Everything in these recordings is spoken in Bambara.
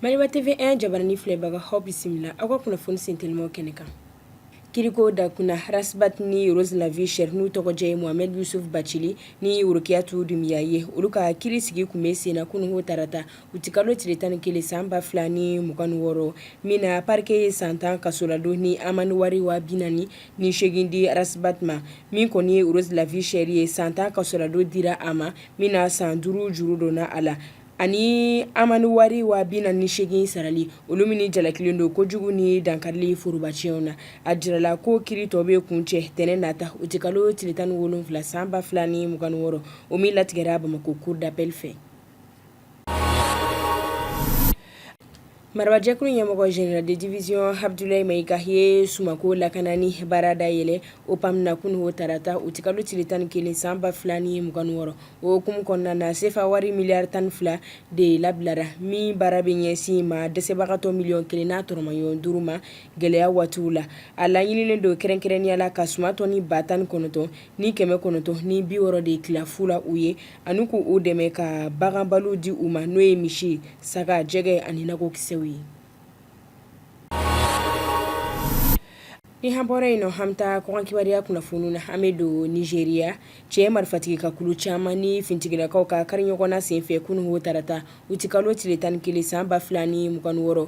Maliba TV 1 jabarani filɛbagaw aw bisimila aw ka kunnafoni sentelima kɛnɛ kan kiriko da kunna Ras Bath ni Rose la vie chère n'u tɔgɔjɛ ye mohamɛd yusuf bacili ni worokiyatu dumiya ye olu ka kiri sigi kun bɛ senna kunungo tarata Utikalo tile tan ni kelen san ba fila ni mugan ni wɔɔrɔ min na parquet ye san tan kasoladon ni amende wari waa bi naani ni seegin di Ras Bath ma min kɔni ye Rose la vie chère ye san tan kasoladon dira a ma min na san duuru juru donna a la ani amende wari waa bi naani ni seegin sarali olu min jalakilen don kojugu ni dankarili forobaciyɛnw na a jirala ko kiri tɔ bɛ kuncɛ tɛnɛn nata utikalo tile tan ni wolonwula san ba fila ni mugan ni wɔɔrɔ o min latigɛra bamakɔ cour d'appel fɛ marabajɛkulu ɲɛmɔgɔ general de division abdulayi mayiga ye sumanko lakanani baara dayɛlɛ OPAM na kunun wo tarata utikalo tile tan ni kelen san ba fila ni mugan ni wɔɔrɔ o hukumu kɔnɔna na sefa wari miliyari tan ni fila de labilara min baara bɛ ɲɛsin maa dɛsɛbagatɔ miliyɔn kelen n'a tɔrɔmayɔn duuru ma gɛlɛya waatiw la a laɲininen don kɛrɛnkɛrɛnnenya la ka suman tɔni ba tan ni kɔnɔntɔn ni kɛmɛ kɔnɔntɔn ni bi wɔɔrɔ de tila fu la u ye ani k' u dɛmɛ ka baganbalo di u ma n'o ye misi saga jɛgɛ ani nakɔkisɛw ye ni an bɔra yen nɔ an bɛ taa kɔkan kibaruya kunnafoniw na an bɛ don Nizeriya cɛ marifatigi ka kulu caman ni finitigilakaw ka kari ɲɔgɔn na senfɛ kunun wo tarata utikalo tile tan ni kelen san ba fila ni mugan ni wɔɔrɔ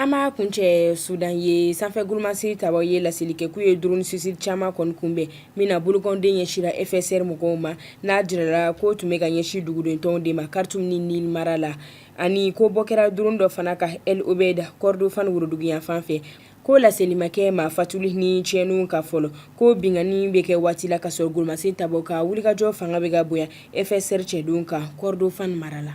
An m'a kuncɛ sudan ye sanfɛ gmasi ta ye laseli kɛ k'u ye drone suicide caman kɔni kunbɛn min na bolokɔnden ɲɛsira FSR mɔgɔw ma n'a jirala k'o tun bɛ ka ɲɛsin dugudentɔnw de ma Khartoum ni Nil mara la ani ko bɔ kɛra drone dɔ fana kan El Obeid Kordofan woroduguyanfan fɛ ko laseli ma kɛ maa fatuli ni tiɲɛniw kan fɔlɔ ko binkanni bɛ kɛ waati la ka sɔrɔ gololasi ta ka wulikajɔ fanga bɛ ka bonya FSR cɛdenw kan Kordofan mara la